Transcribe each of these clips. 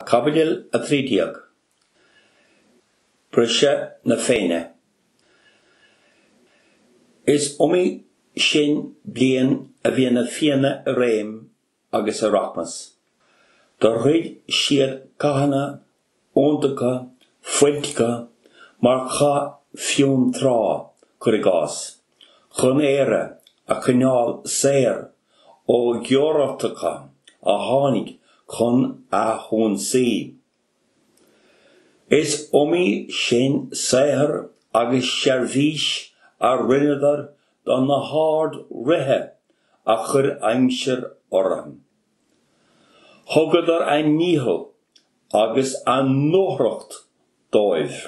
Caibidil 13. Briseadh na Féinne Is iomaí sin bliain a bhí na Fianna i réim agus i rachmas. Do throid siad cathanna iontacha, fuilteacha, mar Chath Fionn Trá, cuir i gcás, chun Éire a choinneáil saor ó ionraitheoirí a tháinig chun a hionsaí. Is iomaí sin saothar agus seirbhís a rinneadar do na hard-ríthe a chuir aimsir orthu. Thugadar a ndícheall agus a ndúthracht dóibh.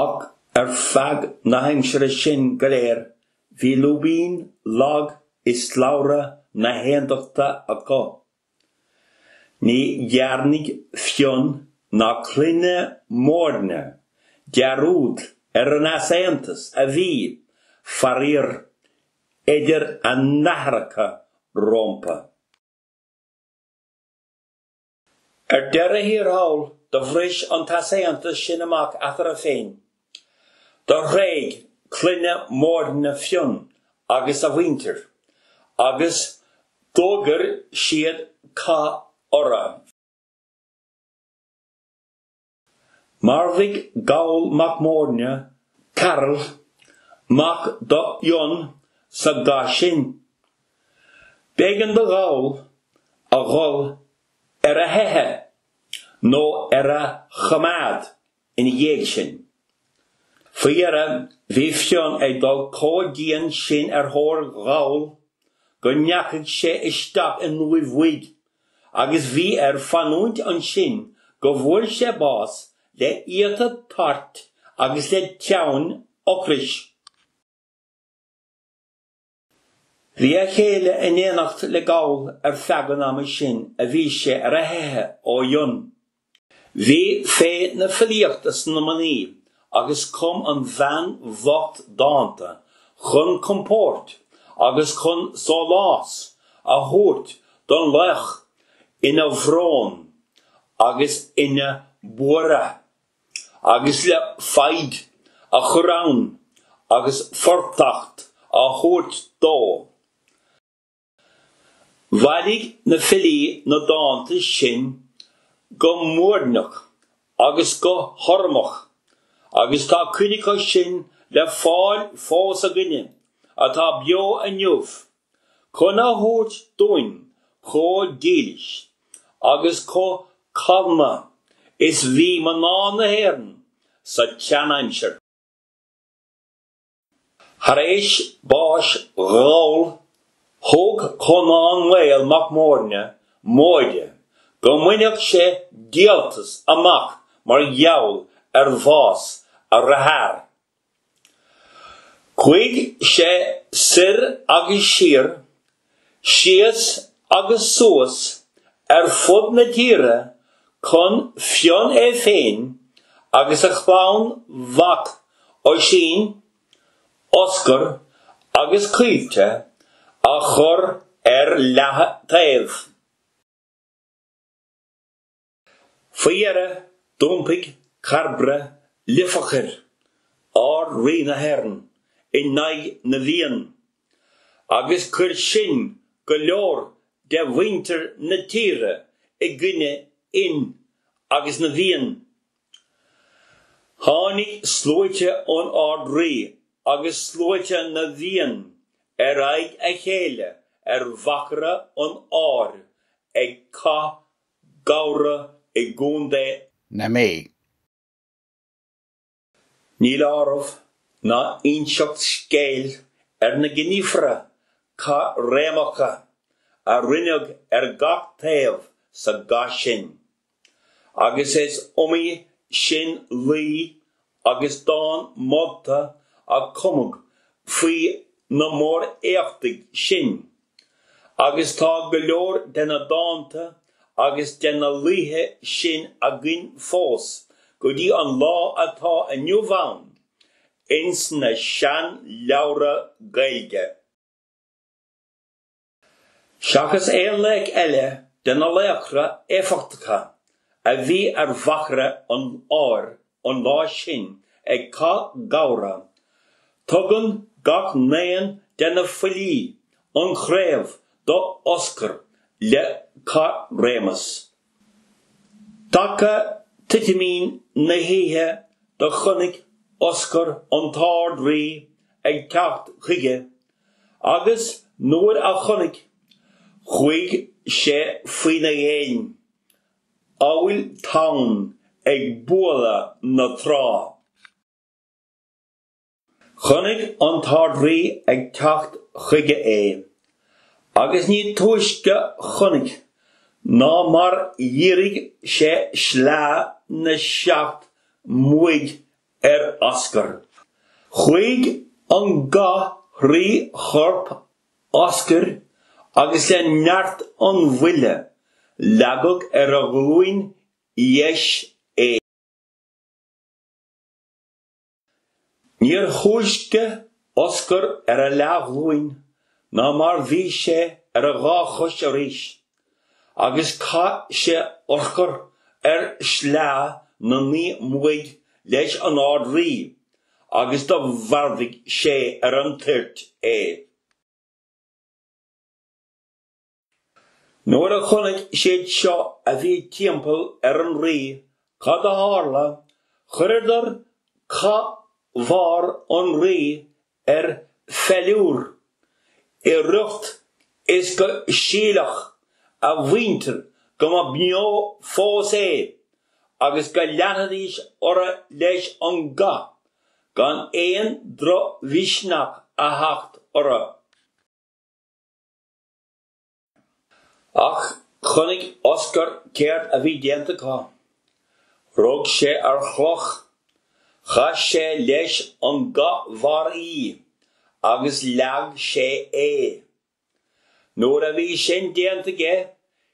Ach ar feadh na haimsire sin go léir bhí lúibín lag i slabhra na haontachta acu. Ní dhearnaidh Fionn ná Clanna Móirne dearúd ar an easaontas a bhí, faraor, idir a n-aithreacha rómpa. Ar deireadh thiar thall, do bhris an t-easaontas sin amach eatartha féin, Do thréig Clanna Móirne Fionn agus a mhuintir agus d'fhógair siad cath orra. Mharbhuigh Goll mac Móirne Caireall, mac do Fhionn, sa gcath sin. B'éigean do Gholl a dhul ar a theicheadh nó ar a choimeád ina dhiaidh sin. Faoi dheireadh, bhí Fionn ag dul comh dian sin ar thóir Ghoill go ndeachaigh sé isteach in uaimh bhig agus bhí air fanúint ansin go bhfuair sé bás le íota tairt agus le teann ocrais. Bhí a chéile in éineacht le Goll ar feadh an ama sin a bhí sé ar a theitheadh ó Fhionn. Bhí féith na filíochta sa mnaoi agus chum an bhean bhocht dánta chun compóirt agus chun sólás a thabhairt don laoch ina bhrón agus ina bhuaireamh agus le foighid a chur ann agus fortacht a thabhairt dó. Bhailigh na filí na dánta sin go muirneach agus go hurramach agus tá cuid acu sin le fáil fós againne atá beo inniu chun a thaispeáint dúinn chomh dílis agus chomh calma is bhí mná na hÉireann sa tseanaimsir. Tar éis báis Ghoill, thug Conán Maol Mac Móirne móid go mbainfeadh sé díoltas amach mar gheall ar bhás a dhearthár, Chuaigh sé soir agus siar, síos agus suas ar fud na tíre chun Fionn é féin agus a chlann mhac, Oisín, Oscar agus Caoilte a chur ar leath-taobh. Faoi dheireadh, d'iompaigh Cairbre Lifeachair, Ard-Rí na hÉireann, in aghaidh na bhFiann, agus chuir sin go leor de mhuintir na tíre i gcoinne Fhinn agus na bhFiann. Tháinig sluaite an Ard-Rí agus sluaite na bhFiann ar aghaidh a chéile ar mhachaire an áir ag Cath Gabhra i gContae na Mí. Níl áireamh ná inseacht scéil ar na gníomhartha caithréimeacha a rinneadh ar gach taobh sa gcath sin, agus is iomaí sin laoi agus dán molta a cumadh faoi na mór-éachtaí sin, agus tá go leor de na dánta agus de na laoithe sin againn fós go dtí an lá atá inniu ann ins na seanleabhra Gaeilge. Seachas aon laoch eile de na laochra éifeachtacha a bhí ar mhachaire an áir an lá sin ag Cath Gabhra, tugann gach n-aon de na filí an chraobh do Oscar le caithréimeas. Taca titim na hoíche do chonaic Oscar an tArd-Rí ag teacht chuige, agus nuair a chonaic, chuaigh sé faoina dhéin, amhail tonn ag bualadh na trá. Chonaic an tArd-Rí ag teacht chuige é, agus ní túisce chonaic ná mar dhírigh sé sleá na seacht mbua ar Oscar. Chuaigh an ga thrí chorp Oscair agus le neart an bhuille, leagadh ar a ghlúin dheis é. Níor thúisce Oscar ar a leathghlúin ná mar bhí sé ar a dhá chois arís. agus chaith sé urchar ar shleá na naoi mbuaidh leis an Ard-Rí agus do mharbhuigh sé ar an toirt é. Nuair a chonnaic siad seo a bhí timpeall ar an Rí cad a tharla, chuireadar cathbharr an Rí ar pheiliúr i riocht is go sílfeadh a mhuintir go mba bheo fós é agus go leanfaidís orthu leis an gcath gan aon drochmhisneach a theacht orthu. Ach chonaic Oscar céard a bhí déanta acu. Rug sé ar chloch, chaith sé leis an gcathbharr í agus leag sé é. Nuair a bhí sin déanta aige,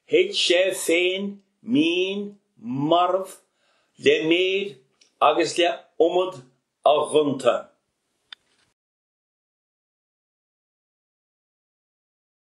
thit sé féin mín marbh le méid agus le iomad a ghonta.